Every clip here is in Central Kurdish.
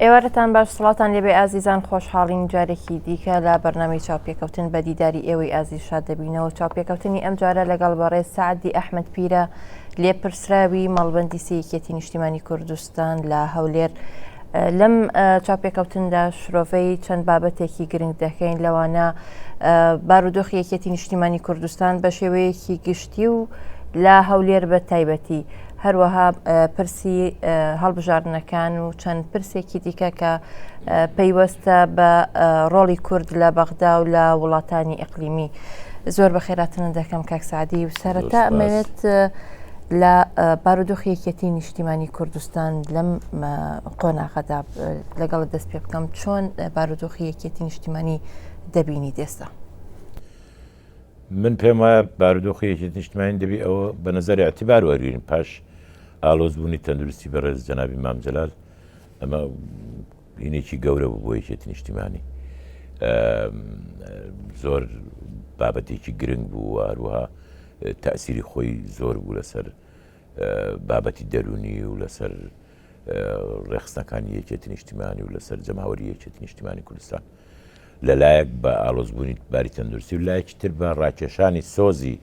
ئێوارەتان باش سڵاتان لێبێ ئازیزان خۆشحاڵین جارێکی دیکە لە بەرنامی چاپێکەوتن بە دیداری ئێوەی ئازی شاد دەبینەوە چاپێکەوتنی ئەم جارە لەگەڵ بەڕێز سعدی ئەحمد پیرە لێپرسراوی مەڵبندی سیکێتی نیشتیمانی کوردستان کوردستان لە هەولێر لەم چاپێکەوتندا شرۆڤەی چەند بابەتێکی گرنگ دەکەین لەوانە بارودۆخی یەکێتی نیشتیمانی کوردستان بە شێوەیەکی گشتی و لە هەولێر بە تایبەتی هەروەها پرسی هەڵبژاردنەکان و چەند پرسێکی دیکە کە پەیوەستە بە ڕۆڵی کورد لە بەغدا و لە وڵاتانی ئەقلیمی زۆر بە خێراتنە دەکەم کاکسعدی و سەرەتا ئەمەوێت لە بارودۆخی یەکێتی نیشتیمانی کوردستان لەم قۆناغەدا لەگەڵ دەست پێ بکەم چۆن بارودۆخی یەکێتی نیشتیمانی دەبینی دێستا من پێم وایە بارودۆخی یەکێتی نیشتمانی دەبی ئەوە بە نظر اعتبار وەرگین پاش ئالۆزبوونی تەندروستی بەڕێز جەنابی مامجلال ئەمە بینێکی گەورە بوو بۆ یەکێتی نیشتیمانی زۆر بابەتێکی گرنگ بوو و هەروەها تاسیری خۆی زۆر بوو لەسەر بابەتی دەرونی و لەسەر ڕێخستەکانی یەکێتی نیشتیمانی و لەسەر جەماوەری یەکێتی نیشتیمانی کوردستان لەلایەک بە ئالۆزبوونی باری تەندروستی و لایەکی تر بە ڕاکێشانی سۆزی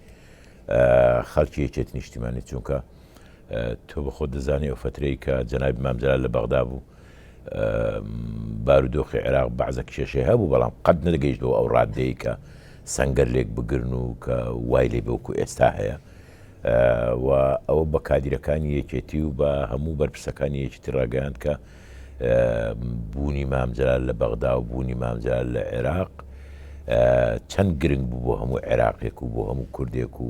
خەڵکی یەکێت نیشتیمانی چونکە تۆ بەخۆ دەزانانی ئەو فترەی کە جەنای مامجلال لە بەغدا بوو بارودۆخی عێراق بەعزە کێشەی هەبوو بەڵام قەت نەدەگەیشت بۆ ئەو ڕاددەیە کە سەنگەر لێک بگرن و کە وای لێ بەوکو ئێستا هەیە و ئەوە بە کادیرەکانی یەکێتی و بە هەموو بەرپرسەکانی یەکێتی ڕاگەیاند کە بوونی مامجلال لە بەغدا و بوونی مامجلال لە عێراق چەند گرنگ بوو بۆ هەموو عێراقێک و بۆ هەموو کوردێک و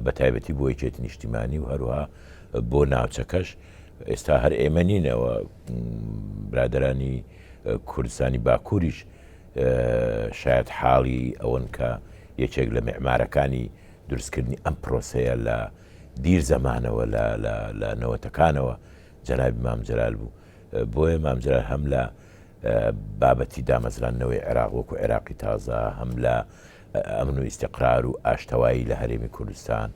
بە تایبەتی بۆ یەکێتی نیشتیمانی و هەروها بۆ ناوچەکەش ئێستا هەر ئێمە نین ئەوە برادەرانی کوردستانی باکووریش شاید حاڵی ئەوەن کە یەکێک لە میعمارەکانی دروستکردنی ئەم پرۆسەیە لە دیر زەمانەوە لە نەوەتەکانەوە جەنابی مام جەلال بوو بۆیە مام جەلال هەم لە بابەتی دامەزراندنەوەی عێراق وەکو عێراقی تازە هەم لە ئەمن و ئیستیقرار و ئاشتەوایی لە هەرێمی کوردستان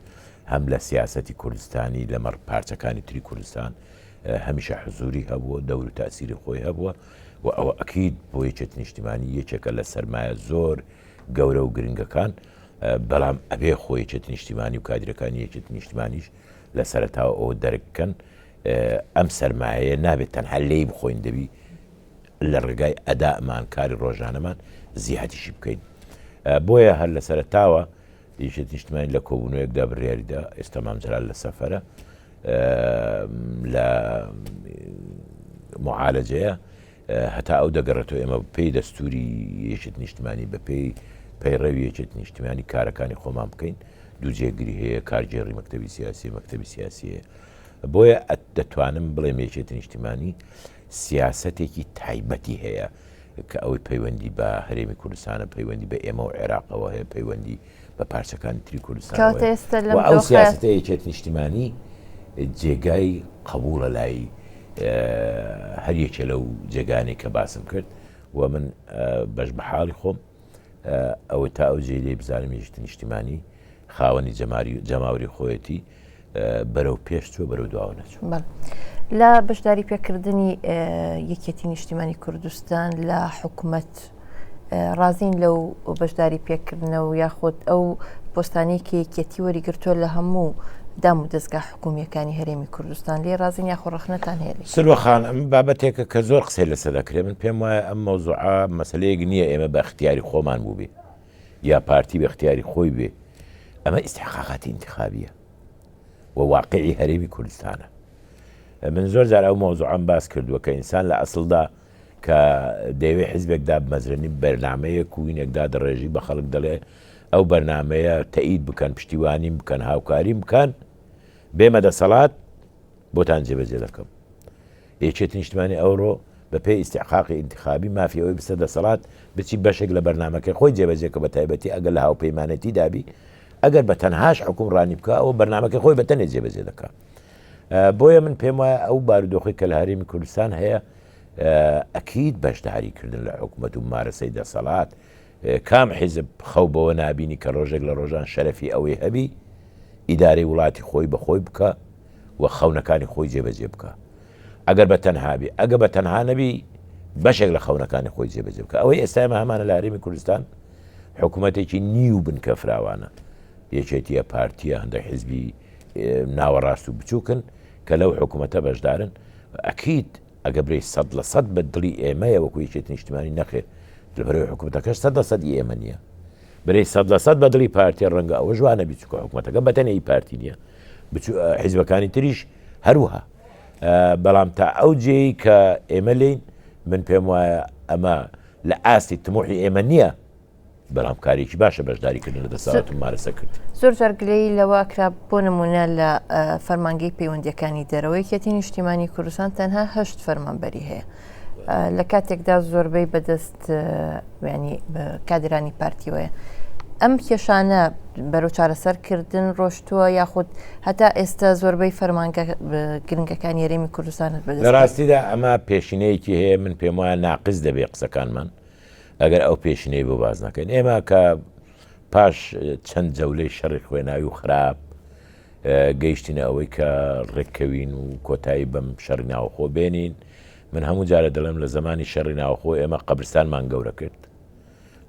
هەم لە سیاسەتی کوردستانی لەمەڕ پارچەکانی تری کوردستان هەمیشە حزوری هەبووە دەور و تاسیری خۆی هەبووە و ئەوە ئەکید بۆ یەکێت نیشتیمانی یەکێکە لە سەرمایە زۆر گەورە و گرنگەکان بەڵام ئەبێ خۆ یەکێت نیشتیمانی و کادرەکانی یەکێت نیشتمانیش لە سەرتاوە ئەوە دەرککەن ئەم سەرمایە نابێت تەنها لێی بخۆین دەبی لە ڕێگای ئەدائمان کاری ڕۆژانەمان زیاتیشی بکەین بۆیە هەر لە سەرتاوە یشت نیشتمانی لە کۆبوونەوەیەکدا بڕیاریدا ئێستا مامجلال لە سەفرە لە معالەجەیە هەتا ئەو دەگەڕێتەوە ئێمە پێی دەستوری یەکێت نیشتمانی بە پێی پەیڕەوی یەکێت نیشتمانی کارەکانی خۆمان بکەین دوو جێگری هەیە کارگێڕی مەکتتەبی سیاسی مەکتتەبی سیاسیە بۆیە دەتوانم بڵێ مێچێت نیشتیمانی سیاسەتێکی تایبەتی هەیە کە ئەوەی پەیوەندی بە هەرێمی کوردستانە پەیوەندی بە ئێمە و عێراقەوە هەیە پەیوەندی بە پارچەکانی تری کوردستانەوە هەیە و ئەو سیاسەتە یەکێتی نیشتیمانی جێگای قەبووڵە لای هەر یەکێ لەو جێگانەی کە باسم کرد و من بەشبەحاڵی خۆم ئەوە تا ئەو جێی لێی بزانم یەکێتی نیشتیمانی خاوەنی جەماوری خۆیەتی بەرەو پێش چوە بەرەو دواوە نەچوو لە بەشداری پێکردنی یەکێتی نیشتیمانی کوردستان لە حکوومەت ڕازین لەو بەشداری پێکردنەوە یاخود ئەو پۆستانی کە یەکێتی وەریگرتووە لە هەموو دام و دەستگا حکوومییەکانی هەرێمی کوردستان لێی ڕازین یاخۆ ڕەخنەتان هەیە لێی؟ سروە خان، ئەمە بابەتێکە کە زۆر قسەی لەسەر دەکرێ. من پێم وایە ئەم مەوزوعە مەسەلەیەک نییە ئێمە بە ئیختیاری خۆمان بووبێ یا پارتی بە ئیختیاری خۆی بێ. ئەمە ئیستحقاقاتی ئینتخابییە و واقعی هەرێمی کوردستانە. من زۆر جار ئەو مەوزوعەم باس کردووە کە ئینسان لە ئەسڵدا کە دەیەوێ حیزبێک دابمەزرێنی بەرنامەیەک و وینێک دادەڕێژی بە خەڵک دەڵێ ئەو بەرنامەیە تەئید بکەن پشتیوانیم بکەن هاوکاریم بکەن بێمە دەسەڵات بۆتان جێبەجێ دەکەم یەکێتی نیشتمانی ئەوڕۆ بە پێی ئیسیحقاقی ئینتخابی مافی ئەوەی بسە دەسەڵات بچی بەشێک لە بەرنمەکەی خۆی جێبەجێ کە بە تایبەتی ئەگەر لە هاوپەیمانەتی دابی ئەگەر بە تەنهاش حکوم ڕانی بکە ئەو بەرنمەکەی خۆی بەتەنێ جێبەجێ دەکە بۆیە من پێم وایە ئەو بارودۆخی کە لە هەرێمی کوردستان هەیە ئەکید بەشداری کردن لە حکومەت و ممارەسەی دەسەڵات، کام حیزب خەو بەوە نابینی کە ڕۆژێک لە ڕۆژان شەرەفی ئەوەی هەبی ئیدارەی وڵاتی خۆی بە خۆی بکا و خەونەکانی خۆی جێبەجێ بکا ئەگەر بە تەنها بی ئەگە بە تەنها نەبی بەشێک لە خەونەکانی خۆی جێبەجێ بکە ئەوەی ئێستا ئێمە هەمانە لە هەرێمی کوردستان حکوومەتێکی نیو بنکە فراوانە یەکێتیە پارتیە هەندێک حزبی ناوەڕاست و بچووکن کە لەو حکوومەتە بەشدارن ئەکید ئەگە برێی سەد لە سەد بە دڵی ئێمەیە وەکو یەکێتی نیشتیمانی نەخێر لەبەرئەوەی حکومەتەکەش سەد لە سەد ئی ئێمە نیە برێی سەد لە سەد بە دڵی پارتیە ڕەنگە ئەوەش وانەبی چونکە حکومەتەکە بەتەنێ ئی پارتی نیە بچو حیزبەکانی تریش هەروها بەڵام تا ئەو جێی کە ئێمە لێین من پێم وایە ئەمە لە ئاستی تموحی ئێمە نیە. برام کارێکی باشە بەشداری کردن لە دەسەڵات و مارەسە کرد زۆر زار گلەی لەوە کرا بۆ نمونە لە فەرمانگەی پەیوەندەکانی دەرەوەی کەتی نیشتیمانی کوردستان تەنها هەشت فەرمانبەری هەیە لە کاتێکدا زۆربەی بەدەست وێنی کادرانی پارتیوەیە ئەم کێشانە بەرەو چارەسەرکردن ڕۆشتووە یاخود هەتا ئێستا زۆربەی فەرمانگە گرنگەکان یاریمی کوردستانت بە لە ڕاستیدا ئەمە پێشینەیەکی هەیە من پێم وایە ناقز دەبێ قسەکانمان ئەگەر ئەو پێشینەی بۆ باس نەکەین ئێمە کە پاش چەند جەولەی شەڕی خوێناوی و خراپ گەیشتینە ئەوەی کە ڕێککەوین و کۆتایی بەم شەڕی ناوخۆ بێنین من هەموو جارە دەڵێم لە زمانی شەڕی ناوخۆ ئێمە قەبرستانمان گەورە کرد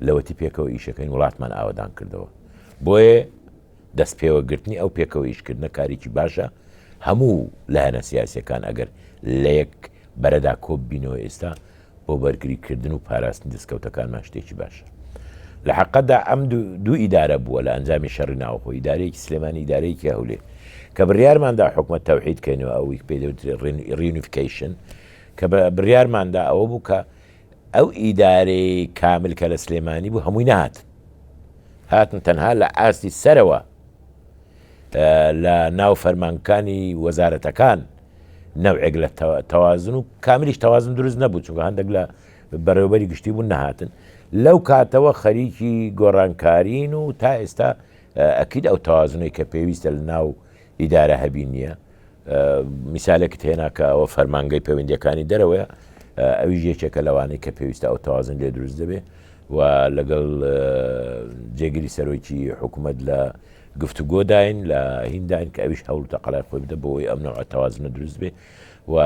لەوەتی پێکەوە ئیشەکەین وڵاتمان ئاوادان کردەوە بۆیە دەست پێوەگرتنی ئەو پێکەوە ئیشکردنە کارێکی باشە هەموو لایەنە سیاسەکان ئەگەر لە یەک بەرەدا کۆب بینەوە ئێستا بۆ بەرگری کردن و پاراستنی دەستکەوتەکانمان شتێکی باشە. لە حەقەتدا ئەم دوو ئیدارە بووە لە ئەنجامی شەڕی ناوەخۆ، ئیدارەیەکی سلێمانی، ئیدارەیەکی هەولێر. کە بڕیارماندا حکومەت تەوحید کەینەوە ئەوەی پێ دەوترێت ڕیونیفکەیشن، کە بڕیارماندا ئەوە بوو کە ئەو ئیدارەی کامل کە لە سلێمانی بوو هەمووی نەهاتن. هاتن تەنها لە ئاستی سەرەوە لە ناو فەرمانگەکانی وەزارەتەکان، نەوعێک لە تەوازن و کاملیش تەوازن دروست نەبوو چونکە هەندێک لە بەڕێوبەری گشتی بوون نەهاتن لەو کاتەوە خەریکی گۆڕانکارین و تا ئێستا ئەکید ئەو تەوازنەی کە پێویستە لە ناو ئیدارە هەبی نییە میسالێکت هێنا کە ئەوە فەرمانگەی پەیوەندەکانی دەرەوەە ئەویش یەکێکە لەوانەی کە پێویستە ئەو تەوازن لێ دروست دەبێ و لەگەڵ جێگیری سەرۆکی حکوومەت لە گفتوگۆداین لە هینداین کە ئەویش هەوڵ تەقەلای خۆی بدە بۆی ئەم نەوە تەوازنە دروست بێ و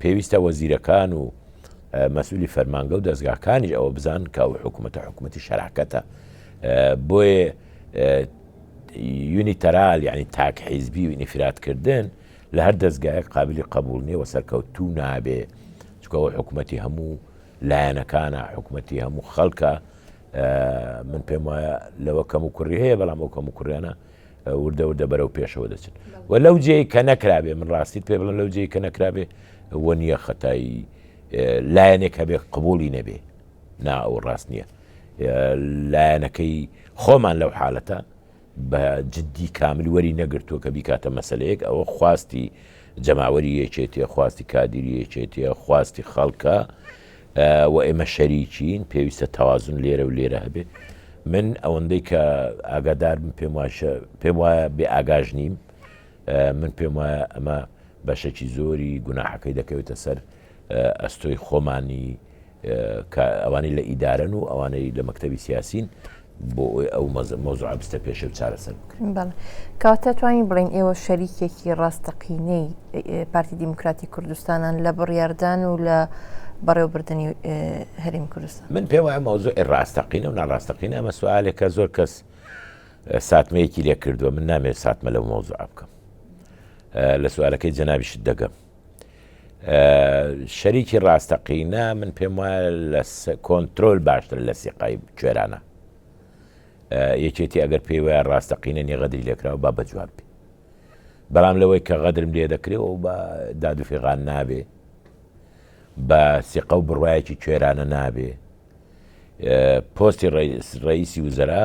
پێویستە وەزیرەکان و مەسولی فەرمانگە و دەستگاکانیش ئەوە بزان کە ئەو حکوومەتە حکوومەتی شەراکەتە بۆیە یونی تەرال یعنی تاک حیزبی و ئینفراتکردن لە هەر دەستگایەک قابلی قبول نیە و سەرکەوتوو نابێ چکەوە حکوومەتی هەموو لایەنەکانە حکوومەتی هەموو خەڵکە من پێم وایە لەوە کەم و کوڕی هەیە بەڵام ئەو کەم و کوڕیانە وردە وردە بەرەو پێشەوە دەچن و لەو جێ کە نەکرابێ من ڕاستیت پێ بڵن لەو جێ کە نەکرابێ وە نییە خەتایی لایەنێک هەبێ قبولی نەبێ نا ئەو ڕاست نییە لایەنەکەی خۆمان لەو حالەتە بە جدی کامل وەری نەگرتووە کە بیکاتە مەسەلەیەک، ئەوە خواستی جەماوەری یەکێتیە، خواستی کادیری یەکێتیە، خواستی خەڵکە و ئێمە شەریکین، پێویستە تەوازن لێرە و لێرە هەبێ. من ئەوەندەی کە ئاگادارم پێم واشە پێم وایە بێ ئاگاش نیم من پێم وایە ئەمە بەشێکی زۆری گوناحەکەی دەکەوێتە سەر ئەستۆی خۆمانی کە ئەوانەی لە ئیدارەن و ئەوانەی لە مەکتتەبی سیاسین بۆ ئەوی ئەو مەزمۆزع بستە پێشە و چارەسەر بکەن کاتە توانین بڵین ئێوە شەریکێکی ڕاستەقینەی پارتی دیموکراتی کوردستانان لە بڕیاردان و لە بەڕێوبردننی هەریم کوردستان من پێم وایە مەوزۆ ڕاستەقینە و ناڕاستەقینە ئەمە سوالێکە زۆر کەس ساتمەیەکی لێ کردووە من نامێت ساتمە لە مۆزوع بکەم لە سوالەکەی جەنابیشت دەگەم شەریکی ڕاستەقینە من پێم وایە لە کۆنتترۆل باشتر لە سیقای کوێرانە یەکێتی ئەگەر پێی وایە ڕاستەقینە نیە غەدری لێکراوە با بەجواب بێ بەڵام لەوەی کە غەدرم لێ دەکرێت و بە دادوفێغان نابێ بە سیقە و بڕواایەکی کوێرانە نابێ پۆستی ڕئیسی وزرا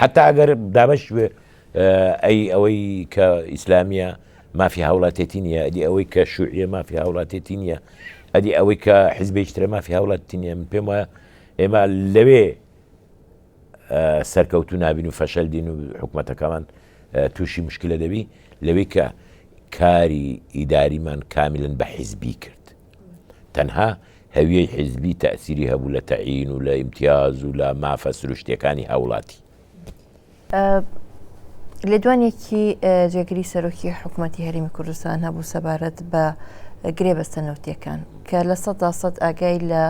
حەتا ئەگەر دابەش بێ ئەی ئەوەی کە ئیسلامیە مافی هاوڵاتێتی نیە ئەدی ئەوەی کە شوعە مافی هاوڵاتێتی نیە ئەدی ئەوەی کە حیزبێکترە مافی هاوڵاتی نیە من پێم وایە ئێمە لەوێ سەرکەوتو نابین و فەشەل دین و حکوومەتەکەمان تووشی مشکلە دەبی لەوەی کە کاری ئیداریمان کامیلن بە حیزبی کرد تەنها هەویەی حیزبی تەئسیری هەبوو لە تەعین و لە ئیمتیاز و لە مافە سروشتیەکانی هاوڵاتی. لێدوانێکی جێگری سەرۆکی حکوومەتی هەرمی کوردستان هەبوو سەبارەت بە گرێبەستە نەوتیەکان کە لە سەدا سەد ئاگای لە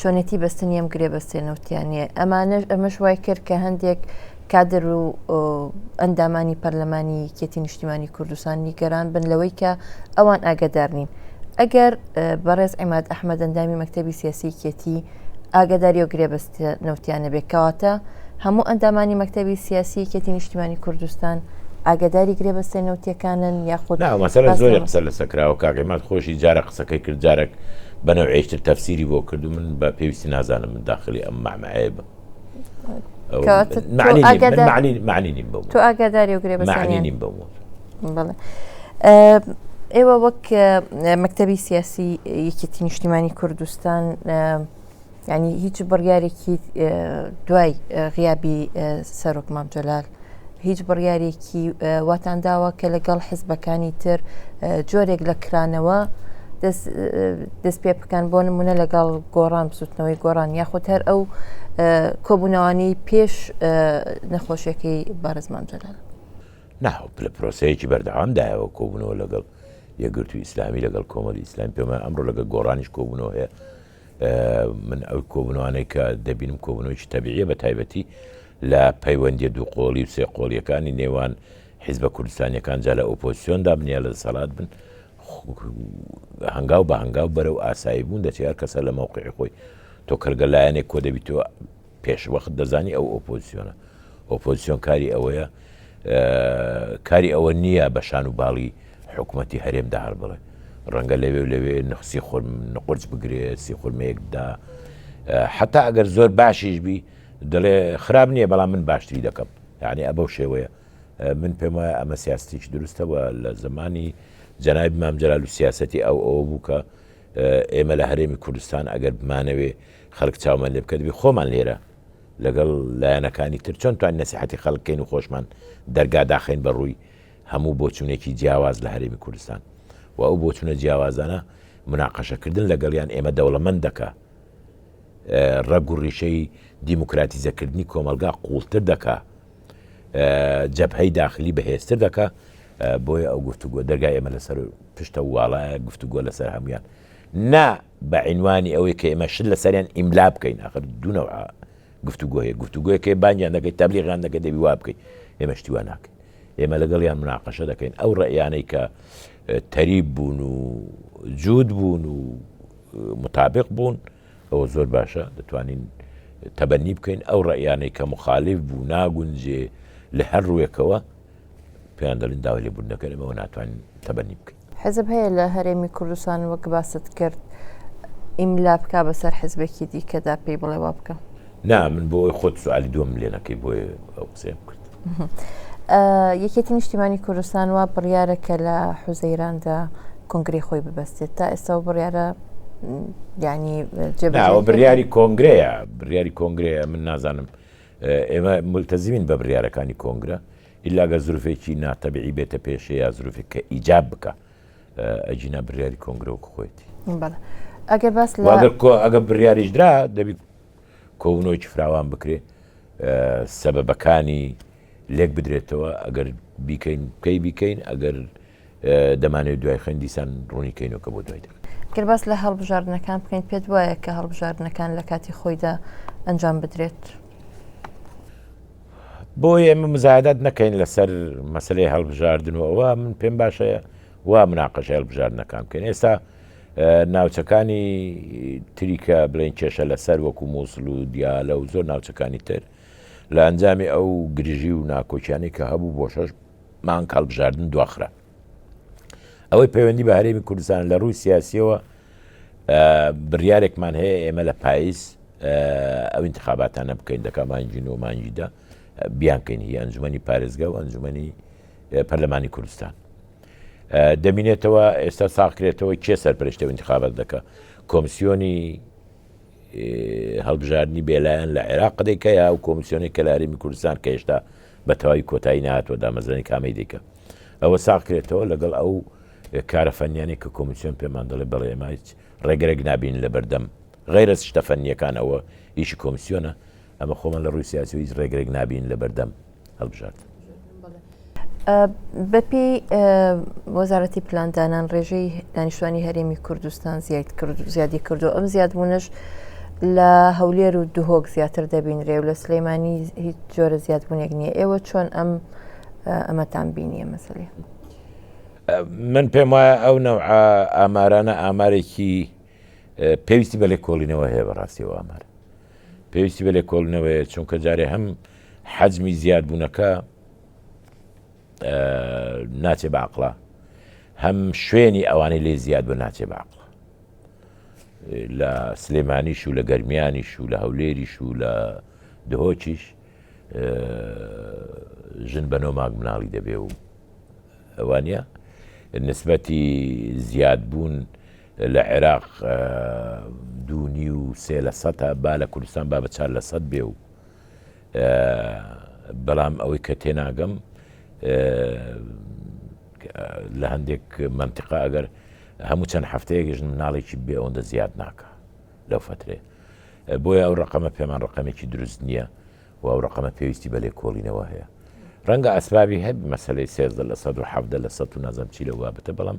چۆنێتی بەستنی ئەم گرێبەستێ نەوتیانە ئەمانەش ئەمەش وای کرد کە هەندێک کادر و ئەندامانی پەرلەمانی یەکێتی نیشتیمانی کوردستان نیگەران بن لەوەی کە ئەوان ئاگدار نین ئەگەر بەڕێز عیماد ئەحمەدەندامی مەکتتەبی سیاسی کێتی ئاگداری و گرێبەست نەوتیانە بێکاتە هەموو ئەندامانی مەکتتەبی سیاسی کێتی نیشتیمانی کوردستان ئاگداری گرێبەستێ نەوتەکانن یاخود مەسەر زۆر قسە لە سەکراوە کاگەمات خۆشی جارە قسەکەی کرد جارێک بەنەوەیشتر تەفسیری بۆ کرد و من بە پێویستی نازانم من داخلی ئەم مامەعەیە بم. ئێوە وەک مەکتتەبی سیاسی یەکێتی نیشتیمانی کوردستان ینی هیچ بڕیارێکی دوای غیابی سەرۆک مامجلال هیچ بڕیارێکی واتان داوە کە لەگەڵ حزبەکانی تر جۆرێک لە کرانەوە دەست پێ بکەن بۆ نمونە لەگەڵ گۆڕان بسوتنەوەی گۆڕان یاخود هەر ئەو کۆبوونەوانی پێش نەخۆشیەکەی بارزمان جەلال نا لە پرۆسەیەکی بەردەوام دایەوە کۆبوونەوە لەگەڵ یەگرتو ئیسلامی لەگەڵ کۆمەری ئیسلام پێمە ئەمڕۆ لەگە گۆڕانیش کۆبوونەوە هەیە من ئەو کۆبنەوانەی کە دەبینم کۆبنەوەیکی تەبیعە بە تایبەتی لە پەیوەندی دوو قۆڵی و سێ قۆڵیەکانی نێوان حیزبە کوردستانیەکان جا لە ئۆپۆسیۆن دابنیە لە دەسەڵات بن هەنگاو بە هەنگاو بەرەو ئاسایی بوون دەچار کەسە لە مەوقعی خۆی تۆ کەرگە لایەنێک کۆ دەبیتەوە پێش وەخت دەزانی ئەو ئۆپۆزسیۆنە ئۆپۆزسیۆن کاری ئەوەیە کاری ئەوە نییە بە شان و باڵی حکوومەتتی هەرێم داهر بڵێ ڕەنگە لەوێ و لەوێ نقسی خۆر نقرج بگرێ سی خورمەیەکدا حتا ئەگەر زۆر باشیش بی دەڵێ خراپ نییە بەڵام من باشتری دەکەم یعنی ئە بەو شێوەیە من پێم وایە ئەمە سیاستیش دروستەوە لە زمانی جەنابی مامجلال و سیاستی ئەو ئەوە بوو کە ئێمە لە هەرێمی کوردستان ئەگەر بمانەوێ خەلک چاومان لێ بکەتبێ خۆمان لێرە لەگەڵ لایەنەکانی تر چۆن توانین نەسیحەتی خەلک بکەین و خۆشمان دەرگا داخەین بە ڕووی هەموو بۆچوونێکی جیاواز لە هەرێمی کوردستان و ئەو بۆچوونە جیاوازانە مناقەشە کردن لەگەڵیان ئێمە دەوڵەمەند دەکا ڕەگ و ڕیشەی دیموکراتیزە کردنی کۆمەلگا قووڵتر دەکا جەبهەی داخلی بەهێزتر دەکا بۆیە ئەو گفتوگۆ دەرگای ئێمە لەسەر پشتە واڵایە گفتوگۆ لەسەر هەمویان نا بە عینوانی ئەوەی کە ئێمە شت لەسەریان ئیملا بکەین ئاخر دوو نەوعە گفتوگۆ هەیە گفتوگۆیە کە بانگیان دەکەیت تەبلیغیان دەکەیت دەبی وا بکەیت ئێمە شتی وا ناکەین ئێمە لەگەڵیان مناقەشە دەکەین ئەو ڕێیانەی کە تەریب بوون و جوود بوون و مطابق بوون ئەوە زۆر باشە دەتوانین تەبەنی بکەین ئەو ڕێیانەی کە مخالف بوو ناگونجێ لە هەر ڕوویەکەوە پێیان دەڵین داوای لێبوون دەکەن ئەمەوە ناتوانین تەبەنی بکەین حیزب هەیە لە هەرێمی کوردستان وەک باست کرد ئیملا بکا بەسەر حیزبێکی دیکەدا پێی بڵێ وا بکە؟ نا من بۆ ئەوی خۆت سوالی دووەم لێ نەکەی بۆیە ئەو قسەیەم کرد. یەکێتی نیشتیمانی کوردستان وا بڕیارە کە لە حوزەیراندا کۆنگری خۆی ببەستێت تا ئێستا و بڕیارە ینی جێبەوە بریاری کۆنگرەیە بریاری کۆنگرەیە من نازانم ئێمە ملتەزیین بە بریارەکانی کۆنگرە ئیلا گەر زروفێکی نا تەبیعی بێتە پێشێ یا زروفێک کە ئیجاب بکە ئەجینا بریاری کۆنگرە وەک خۆێتی ئەگەر باس ئەگە بریاریش درا دەبی کۆبنەوەی فراوان بکرێ سەبەبەکانی لێک بدرێتەوە ئەگەر بیکەین پێی بیکەین ئەگەر دەمانەوێت دوای خوێن دیسان ڕوونی کەینۆکە بۆ دوای دەم. گەر باس لە هەڵبژاردنەکان بکەین پێت وایە کە هەڵبژاردنەکان لە کاتی خۆیدا ئەنجام بدرێت؟ بۆ ئێمە مزایدات نەکەین لەسەر مەسلەی هەڵبژاردن و ئەوە من پێم باشە وا مناقەش هەڵبژاردنەکان بکەین ئێستا ناوچەکانی تریکە بڵێن کێشە لەسەر وەکو مووسڵ و دیالە و زۆر ناوچەکانی تر لە ئەنجامی ئەو گرژی و ناکۆکیانی کە هەبوو بۆ شەش مانگ هەڵبژاردن دواخرا. ئەوەی پەیوەندی بە هەرێمی کوردستان لە ڕووی سیاسیەوە بڕیارێکمان هەیە ئێمە لە پاییز ئەو انتخاباتانە بکەین دەکە مانجی نۆ مانجیدا بیانکەین هی ئەنجومی پارێزگا و ئەنجومی پەرلەمانی کوردستان دەبینێتەوە ئێستا ساقرێتەوە کێ سەرپەرشتە انتخابات دەکە کۆمسیۆنی هەڵبژاردنی بێلایەن لە عێراق قەدێک هەیە و کۆمیسیۆنی کە لە هەرێمی کوردستان کە هێشتا بە تەواوی کۆتایی نهاتوە دامەزرانی کامەی دیکە ئەوە ساغ کرێتەوە لەگەڵ ئەو کارە فەنیانی کە کۆمیسیۆن پێمان دەڵێ بەڵێ ئێمە هیچ ڕێگرێک نابین لە بەردەم غەیرە شتە فەنیەکان ئەوە ئیشی کۆمسیۆنە ئەمە خۆمان لە ڕووی سیاسیەوە هیچ ڕێگرێک نابین لە بەردەم هەڵبژاردن. بەپی وەزارەتی پلاندانان ڕێژەی دانیشتوانی هەرێمی کوردستان زیاد کرد و زیادی کردو ئەم زیادبوونەش لە هەولێر و دهۆک زیاتر دەبینرێ و لە سلەیمانی هیچ جۆرە زیادبوونێک نییە ئێوە چۆن ئەم ئەمەتان بینیە مەسەێ من پێم وایە ئەو نەوع ئامارانە ئامارێکی پێویستی بە لێکۆڵینەوە هەیە بەڕاستی ئەو ئامارە پێویستی بە لێکۆڵنەوەیە چونکە جارێ هەم حەجمی زیادبوونەکە ناچێ باقڵە هەم شوێنی ئەوانەی لێ زیاد بە ناچێ باقڵە لە سلێمانیش و لە گەرمیانیش و لە هەولێریش و لە دهۆکیش ژن بە نۆماگ مناڵی دەبێ و ئەوانە نسبەتی زیادبوون لە عێراق دوو نیو سێ لە سەتە با لە کوردستان با بە چار لە سەد بێ و بەڵام ئەوەی کە تێناگەم لە هەندێک منتیقا ئەگەر هەموو چەند هەفتەیەکیش مناڵێکی بێ ئەوەندە زیاد ناکە لەو فترێ بۆیە ئەو ڕقەمە پێمان ڕقەمێکی دروست نییە و ئەو ڕقەمە پێویستی بە لێکۆڵینەوە هەیە ڕەنگە ئەسبابی هەب مەسلەی سێزدە لە 1970 لە سە و نازم چی لە وابتە بەڵام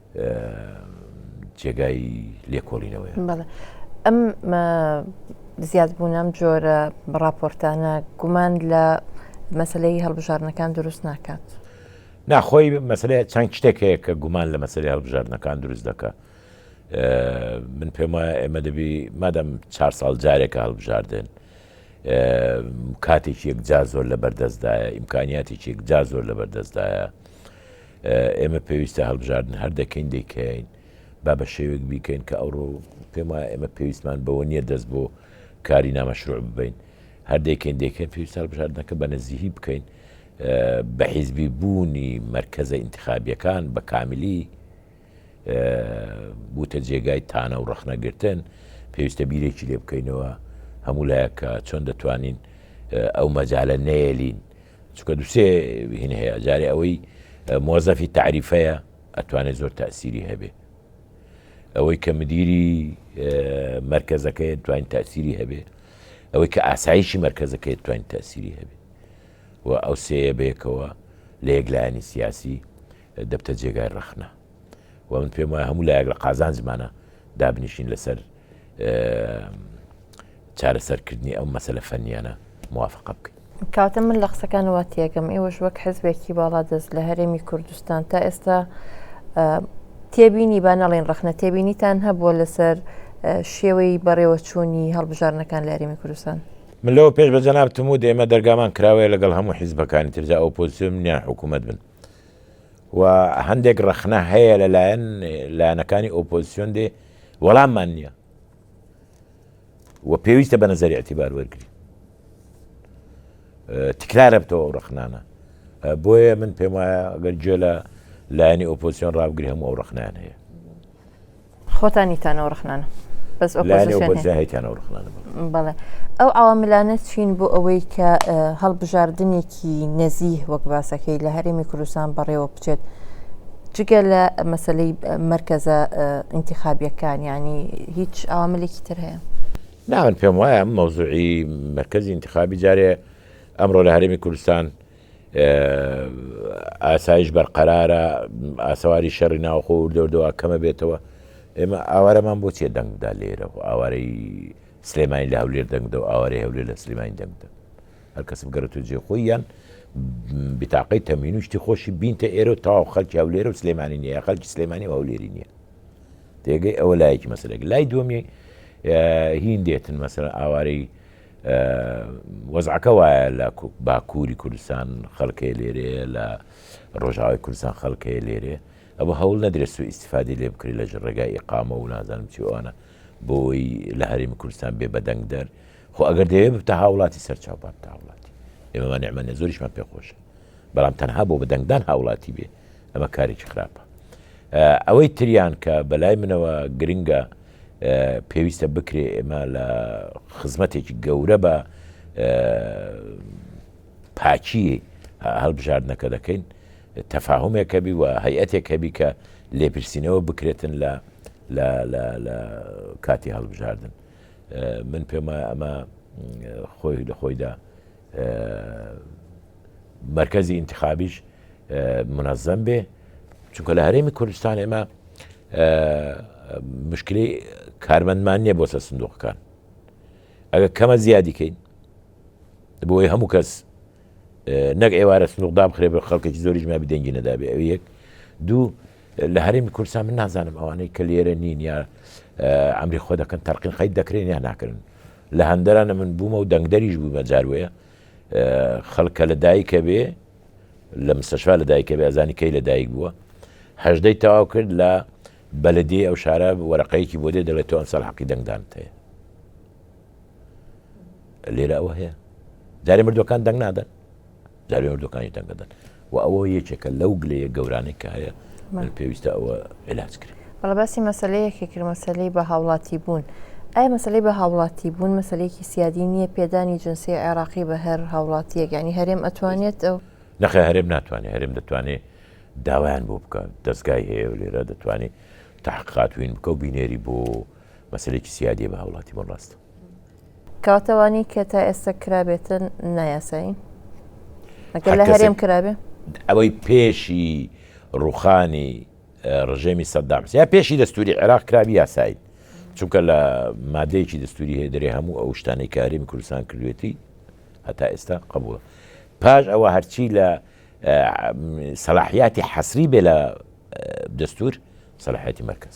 جێگای لێکۆڵینەوەیە. بەڵێ ئەم زیادبوون ئەم جۆرە ڕاپۆرتانە گومان لە مەسلەی هەڵبژاردنەکان دروست ناکات. ناخۆی مەسلەیە چەند شتێک هەیە کە گومان لە مەسلەی هەڵبژاردنەکان دروست دەکات. من پێم وایە ئێمە دەبی مادەم چهار ساڵ جارێکە هەڵبژاردن کاتێکی یەکجار زۆر لە بەردەستدایە ئیمکانیاتێکی یەکجار زۆر لە بەردەستدایە ئێمە پێویستە هەڵبژاردن هەر دەکەین دەیکەین با بە شێوێک بیکەین کە ئەوڕۆ پێم وایە ئێمە پێویستمان بەوە نییە دەست بۆ کاری نامەشروع ببین هەردێکین دێکە پێویست هەڵبژاردنەکە بە نزیهی بکەین بە حیزبی بوونی مرکزە انتخابیەکان بە کاملی بوتە جێگای تانە و ڕخنەگرتن پێویستە بیرێکی لێ بکەینەوە هەموو لایەکە چۆن دەتوانین ئەو مەجالە نەیەلین چونکە دوو سێ هین هەیە جارێ ئەوەی مۆزەفی تعریفەیە ئەتوانێت زۆر تاسیری هەبێ ئەوەی کە مدیری مرکزەکەی توانین تاسیری هەبێ ئەوەی کە ئاسایشی مرکزەکەی توانین تاسیری هەبێ و ئەو سەیە بێکەوە لە یەکلایانی سیاسی دەبتە جێگای ڕەخنە و من پێم وایە هەموو لایەک لە قازانجمانە دابنیشین لەسەر چارەسەرکردنی ئەو مەسەلە فەنیانە موافقە بکەین. کاتە من لە قسەکانەوە تێگەم ئێوەش وەک حزبێکی باڵا دەست لە هەرێمی کوردستان تا ئێستا تێبینی با نەڵێن ڕخنە تێبینیتان هەبووە لەسەر شێوەی بەڕێوەچوونی هەڵبژارنەکان لە هەرێمی کوردستان من لەوە پێش بە جەنابتم و دێمە دەرگامان کراوەیە لەگەڵ هەموو حیزبەکانی ترجا ئەوپۆزسیۆن نیان حکوومەت بن و هەندێک ڕەخنە هەیە لەلایەن لایەنەکانی ئۆپۆزیسیۆن دێ وەڵاممان نییە و پێویستە بە نظری ئەتیبار وەرگری تکرارە بتەوە ئەو ڕخنانە بۆیە من پێم وایە گەر جێ لە لایەنی ئۆپۆسیۆن ڕابگری هەموو ئەو ڕخنان هەیە خۆتانی تانەوە ڕخنانە بەس ئۆپۆزیسیۆنتانەوە ڕخنانە بەڵێ ئەو عواملانە چین بۆ ئەوەی کە هەڵبژاردنێکی نەزیه وەک باسەکەی لە هەرێمی کوردستان بەڕێوە بچێت جگە لە مەسلەی مرکزە ئینتخابیەکان ینی هیچ ئاملێکی تر هەیە ناوەن پێم وایە مەوزوعی مرکزی انتخابی جارێ ئەمڕۆ لە هەرێمی کوردستان ئاسایش بەرقەرارە ئاسەواری شەڕی ناوخۆ و دەوردەوا کەمە بێتەوە ئێمە ئاوارەمان بۆ چێ دەنگدا لێرە و ئاوارەی سلێمانی لە هەولێر دەنگدە و ئاوارەی هەولێر لە سلێمانی دەنگدە هەر کەس بگەڕێت و جێ خۆی یان بتاقەی تەمین و شتی خۆشی بینتە ئێرە و تاو خەلکی هەولێرە و سلێمانی نیە خەلکی سلێمانی و هەولێری نییە تێگەی ئەوە لایەکی مەسلێک لای دومی هیندێتن مەسەر ئاوارەی وەزعەکە وایە لە باکووری کوردستان خەلکەیە لێرەیە لە ڕۆژاوای کوردستان خەلکەیە لێرێ ئەوە هەوڵ نەدرێت سو ئیسفادی لێ بکری لە ڕێگای ئقامە و نازانم چیوانە بۆی لە هەرمی کوردستان بێ بەدەنگ دەر خۆ ئەگەر دەیە بتە هاوڵاتی سەرچاو بابتە هاوڵاتی ئێمەمان نعممە زۆریشمان پێخۆشە بەڵام تەنها بۆ بەدەنگدان هاوڵاتی بێ ئەمە کارێکی خراپە ئەوەی تریان کە بەلای منەوە گرنگە پێویستە بکرێ ئێمە لە خزمەتێکی گەورە بە پاچی هەڵبژاردنەکە دەکەین تەفاهمێک هەبی و هەیئەتێک هەبی کە لێپرسینەوە بکرێتن لە لە کاتی هەڵبژاردن من پێما ئەمە خۆی لە خۆیدا مەرکەزی ئینتخابیش منەزەم بێ چونکە لە هەرێمی کوردستان ئێمە مشکلی کارمەندمان نییە بۆ سە سندوقەکان ئەگە کەمە زیادیکەین بۆی هەموو کەس نەک ئێوارە سنوقدا بخرێ بە خەڵکێکی زۆریش مابی دەنگی نەدابێ ئەو یەک دوو لە هەرێمی کورسا من نازانم ئەوانەی کە لێرە نین یا ئەمری خۆ دەکەن تەرقین خیت دەکرێن یا ناکردن لە هەندەران نە من بوومە و دەنگدەریش بوومە جار وەیە خەڵک کە لە دایکە بێ لە مستەشفا لە دایکە بێ ئەزانی کەی لە دایک بووە هەژدەی تەواو کرد لە بەلدی ئەو شارە وەرەقەیەکی بۆ دێ دەڵێت تۆ ئەمساڵ حەقی دەنگدان هەیە لێرە ئەوە هەیە جارێ مردوەکان دەنگ نادەن داوی ئۆردوکانی دەنگدەدەن و ئەوە یەکێکە لەو گلەیە گەورانەی کە هەیە من پێویستە ئەوە علاج کرێ بەڵە باسی مەسلەیەکی کرد مەسلەی بە هاوڵاتی بوون ئای مەسلەی بە هاوڵاتی بوون مەسلەیەکی سیادی نییە پێدانی جنسی عێراقی بە هەر هاوڵاتیەک ینی هەرێم ئەتوانێت ئەو نەخێ هەرێم ناتوانێت هەرێم دەتوانێت داوایان بۆ بکە دەستگای هەیە و لێرە دەتوانێت تاققاتوین بکە و بینێری بۆ مەسلێکی سیادی بە هاوڵاتی بۆن ڕاستە کاتەوانی کە تا ئێستا کرابێتن نایاسایین ئەگەر لە هەرێم کرابێ ئەوەی پێشی ڕوخانی ڕژێمی سەدام یا پێشی دەستوری عێراق کرابی یاسایین چونکە لە مادەیەکی دەستوری هەیە دەێ هەموو ئەو شتانی کاریم کوردستان کردوێتی هەتا ئێستا قبول پاش ئەوە هەرچی لە سەلاحیاتی حەسری بێ لە دەستور سەلاحەتی مرکز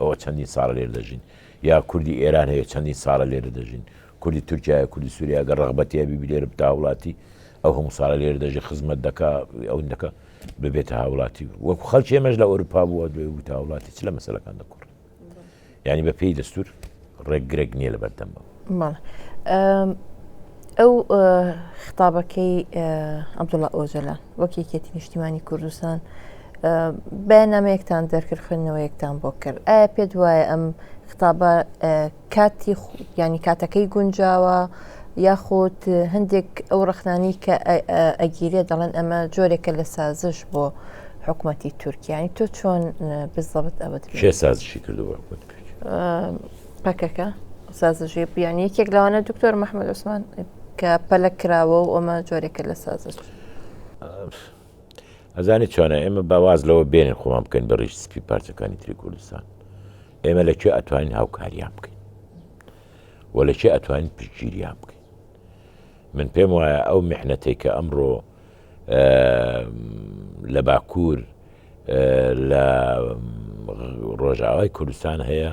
ئەوە چەندین ساڵە لێرە دەژین یا کوردی ئێران هەیە چەندین ساڵە لێرە دەژین کوردی تورکیا کوردی سووریا گە ڕغبەتی هەبی لێرە بتا وڵاتی ئەو هەموو ساڵە لێرە دەژی خزمەت دەکا ئەو دەکە ببێتە هاوڵاتی وەکو خەڵکی ئێمەش لە ئەوروپا بووە دوێ بوو هاوڵاتی چ لە مەسلەکان دەکڕ ینی بە پێی دەستور ڕێک گرێک نیە لە بەردەم من. بەڵێ ئەو خیتابەکەی عەبدوڵا ئۆجەلان وەک یەکێتی نیشتیمانی کوردستان بەیاننامەیەکتان دەرکرد خوێندنەوەیەکتان بۆ کرد ئایا پێت وایە ئەم خطابە کاتی ینی کاتەکەی گونجاوە یاخود هەندێک ئەو ڕخنانی کە ئەگیرێ دەڵێن ئەمە جۆرێکە لە سازش بۆ حکوومەتتی تورکیانی تۆ چۆن بزەبت ئەوەت کێ سازشی کردو بە حکوومەت پەکەکە سازشی بیانی یەکێک لەوانە دکتۆر مححمد عوسمان کە پەلک کراوە و ئەمە جۆرێکە لە سازش ئەزانی چۆنە ئێمە باواز لەوە بێنێ خۆمان بکەین بە ڕیش سپی پارچەکانی تری کوردستان ئێمە لە چێ ئەتوانین هاوکاریان بکەین و لە چێ ئەتوانین پشتگیریان بکەین من پێم وایە ئەو میحنەتێکە ئەمڕۆ لە باکوور لە ڕۆژاوای کوردستان هەیە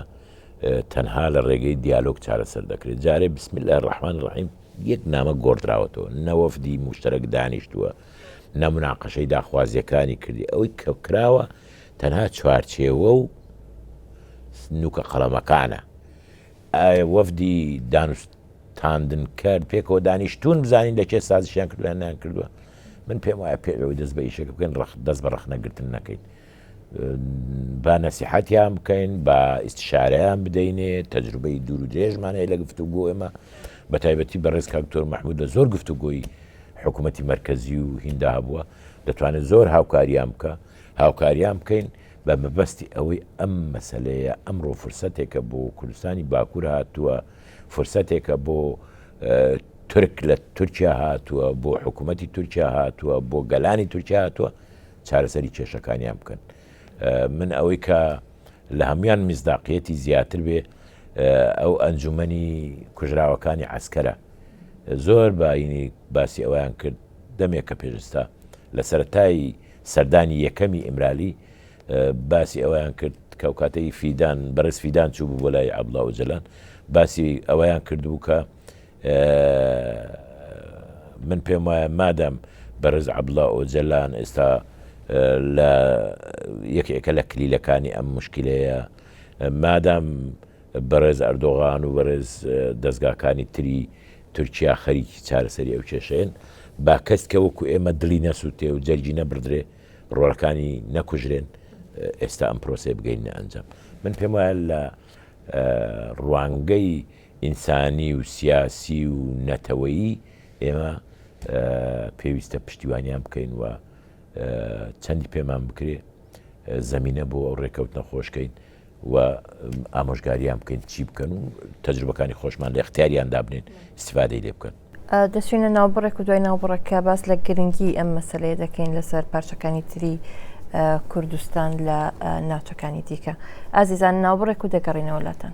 تەنها لە ڕێگەی دیالۆگ چارەسەر دەکرێت جارێ بسم لە ڕحمان ڕحیم یەک نامە گۆڕدراوەتەوە نەوەفدی مشتەرەک دانیشتووە نەمناقەشەی داخوازیەکانی کردی ئەوەی کە کراوە تەنها چوارچێوە و نوکە قەڵەمەکانە ئایا وەفدی دانوستاندنکەر پێکەوە دانیشتوون بزانین لە کێ سازشیان کردووە یان نەیانکردووە؟ من پێم وایە پێ ئەوەی دەست بە ئیشەکە بکەین ڕەخ دەست بە ڕەخنەگرتن نەکەین. با نەسیحەتیان بکەین با ئیستشارەیان بدەینێ تەجروبەی دوور و درێژمان هەیە لە گفتو گۆ ئێمە بە تایبەتی بە ڕێز کاکتۆر مححمود لە زۆر گفتو گۆی حکوومەتتی مرکزی و هیندا هەبووە دەتوانێت زۆر هاوکاریان بکە هاوکاریان بکەین بە مەبەستی ئەوەی ئەم مەسەلەیە ئەمڕۆ فرسەتێکە بۆ کوردستانی باکوور هاتووە، فرسەتێکە بۆ تورک لە تورکیا هاتووە، بۆ حکوومەتی تورکیا هاتووە، بۆ گەلانی تورکیا هاتووە چارەسەری کێشەکانیان بکەن. من ئەوەی کە لە هەموان میزداقیەتی زیاتر بێ ئەو ئەنجومنی کوژراوەکانی عسکەرە زۆر باینی باسی ئەویان کرد دەمێکە پێشستا لە سەتایی سەردانی یەکەمی ئیمرالی باسی ئەوەیان کرد کە کاتەی فیدان بەرز فیدان چوو بوو بۆ لای عبدڵا و جەلان باسی ئەوەیان کردبوو کە من پێم وایە مادەم بەرز عبدڵا و جەلان ئێستا لە یەکێکە لە کلیلەکانی ئەم مشکلەیە مادام بەڕێز ئەردۆغان و بەرێز دەستگاکانی تری تورکیا خەریکی چارەسەری ئەو کێشەیەن با کەس کە وەکو ئێمە دڵی نەسووتێ و جەرگی نەبڕدرێ ڕۆڵەکانی نەکوژرێن ئێستا ئەم پرۆسی بگەینە ئەنجام من پێم وایە لە ڕوانگەی ئینسانی و سیاسی و نەتەوەیی ئێمە پێویستە پشتیوانیان بکەین و چەندی پێمان بکرێ زمینە بۆ ئەو ڕێکەوتنە خۆشکەین و ئامۆژگاریان بکەین چی بکەن و تەجروبەکانی خۆشمان لە اختیاریان دابنێن استفادەی لێ بکەن. دەچینە ناوبڕێک و دوای ناوبڕەکە باس لە گرنگی ئەم مەسلەیە دەکەین لەسەر پارچەکانی تری کوردستان لە ناوچەکانی دیکە ئازیزان ناوبڕێک و دەگەڕینەوە لاتان.